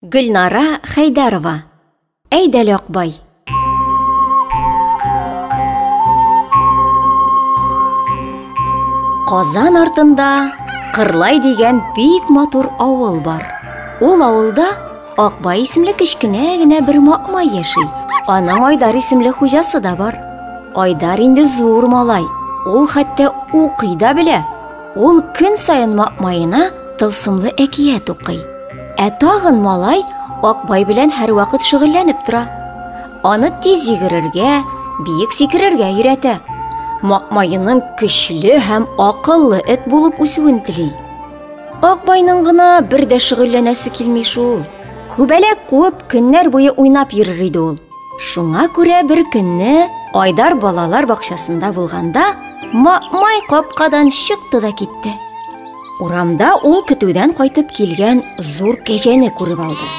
Гөлнара Хәйдәрова. Әйдәл Акбай. Казан артында Кырлай дигән бик матур авыл бар. Ул авылда Акбай исемле кечкенә генә бер макма яши. Аның Айдар исемле хуҗасы да бар. Айдар инде зур малай. Ул хәтта укый да белә. Ул көн саен Макмаена тылсымлы әкият укый. Ә тагын малай Акбай белән һәрвакыт шөгыльләнеп тора. Аны тиз йөгерергә, биек сикерергә өйрәтә. Макмаеның көчле һәм акыллы эт булып үсүен тели. Акбайның гына бер дә шөгыльләнәсе килми шул. Күбәләк куып көннәр буе уйнап йөрер иде ул. Шуңа күрә бер көнне Айдар балалар бакчасында булганда Мамай капкадан чыкты да китте. Урамда ул көтүдән кайтып килгән зур кәҗәне күреп алды.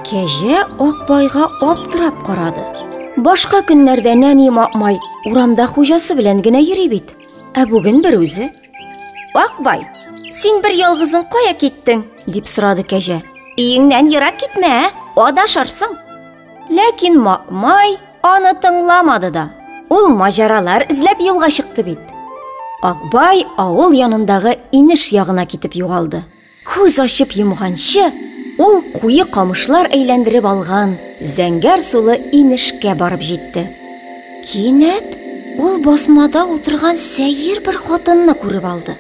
Кәҗә Акбайга аптырап карады. Башка көннәрдә нәни Мамай урамда хуҗасы белән генә йөри бит. Ә бүген бер үзе. Акбай, син бер ялгызың кая киттең? дип сорады кәҗә. Өеңнән ерак китмә, ә? Адашырсың. Ләкин Макмай аны тыңламады да. Ул маҗаралар эзләп юлга чыкты бит. Акбай авыл янындагы инеш ягына китеп югалды. Күз ачып йомганчы, ул куе камышлар әйләндереп алган зәңгәр сулы инешкә барып җитте. Кинәт ул басмада утырган сәер бер хатынны күреп алды.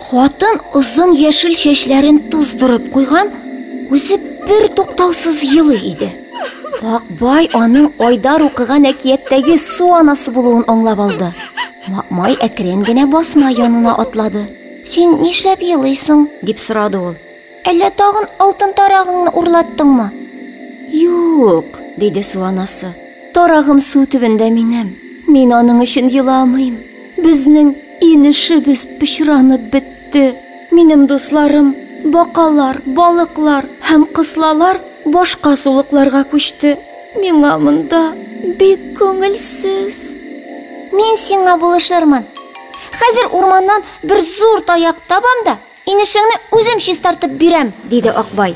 Хатын озын яшел чәчләрен туздырып куйган, үзе бер туктаусыз елый иде. Акбай аның Айдар укыган әкияттәге су анасы булуын аңлап алды. Макмай әкрен генә басма янына атлады. Син нишләп елыйсың? дип сорады ул. Әллә тагын алтын тарагыңны урлаттыңмы? Юк, диде су анасы. Тарагым су төбендә минем. Мин аның өчен еламыйм. Безнең Инешебез пычранып бетте. Минем дусларым, бакалар, балыклар һәм кыслалар башка сулыкларга күчте. Миңа монда бик күңелсез. Мин сиңа булышырмын. Хәзер урманнан бер зур таяк табам да, инешеңне үзем чистартып бирәм, диде Акбай.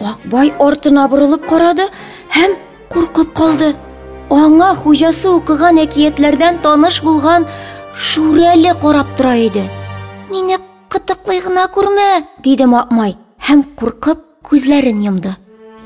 Акбай артына борылып карады һәм куркып калды. Аңа хуҗасы укыган әкиятләрдән таныш булган Шүрәле карап тора иде. Мине кытыклый гына күрмә, диде Макмай һәм куркып күзләрен йомды.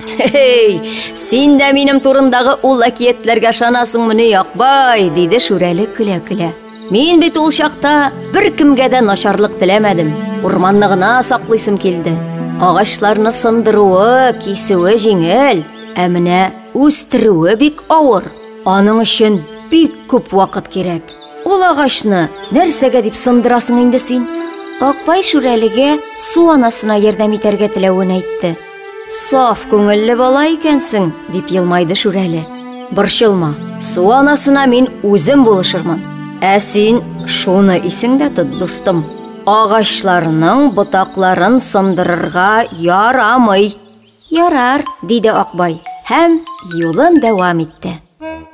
Хей, син дә минем турындагы ул әкиятләргә ышанасыңмыни, Акбай, диде Шүрәле көлә-көлә. Мин бит ул чакта беркемгә дә начарлык теләмәдем. Урманны гына саклыйсым килде. Агачларны сындыруы, кисүе җиңел, ә менә үстерүе бик авыр. Аның өчен бик күп вакыт кирәк. Ул агачны нәрсәгә дип сындырасың инде син? Акбай Шүрәлегә су анасына ярдәм итәргә теләвен әйтте. Саф күңелле бала икәнсең, дип елмайды Шүрәле. Борчылма, су анасына мин үзем булышырмын. Ә син шуны исеңдә тот, дустым. Агачларның ботакларын сындырырга ярамый. Ярар, диде Акбай һәм юлын дәвам итте.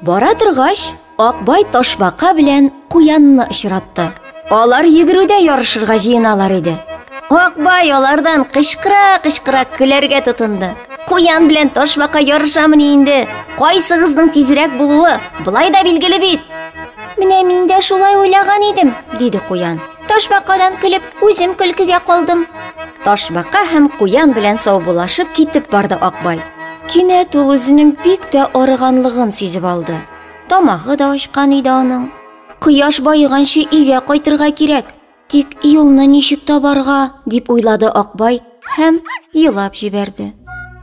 Бара торгач, Акбай ташбака белән куянны очратты. Алар йөгерүдә ярышырга җыеналар иде. Акбай алардан кычкыра-кычкыра көләргә тотынды. Куян белән ташбака ярышамыни инде? Кайсыгызның тизрәк булуы былай да билгеле бит. Менә мин дә шулай уйлаган идем, диде Куян. Ташбакадан көлеп, үзем көлкегә калдым. Ташбака һәм куян белән саубулашып китеп барды Акбай. Кинәт ул үзенең бик тә арыганлыгын сизеп алды. Тамагы да ачкан иде аның. Кояш баеганчы өйгә кайтырга кирәк. Тик юлны ничек табарга, дип уйлады Акбай һәм елап җибәрде.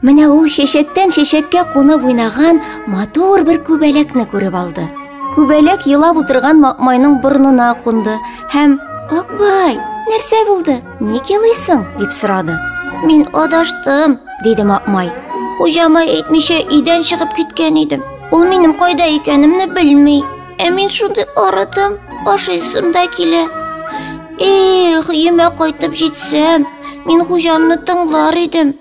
Менә ул чәчәктән чәчәккә кунып уйнаган матур бер күбәләкне күреп алды. Күбәләк елап утырган Макмайның борнына кунды һәм «Акбай, нәрсә булды? Ник елыйсың?» дип сорады. «Мин адаштым», диде Макмай. «Хуҗама әйтмичә өйдән чыгып киткән идем. Ул минем кайда икәнемне белми». Ә мин шундый арыдым, ашыйсым да килә. Эх, өемә кайтып җитсәм, мин хуҗамны тыңлар идем.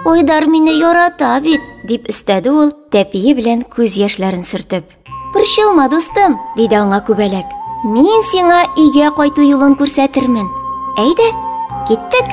Айдар мине ярата бит, дип өстәде ул, тәпие белән күз яшьләрен сөртеп. Борчылма, дустым, диде аңа күбәләк. Мин сиңа өйгә кайту юлын күрсәтермен. Әйдә, киттек.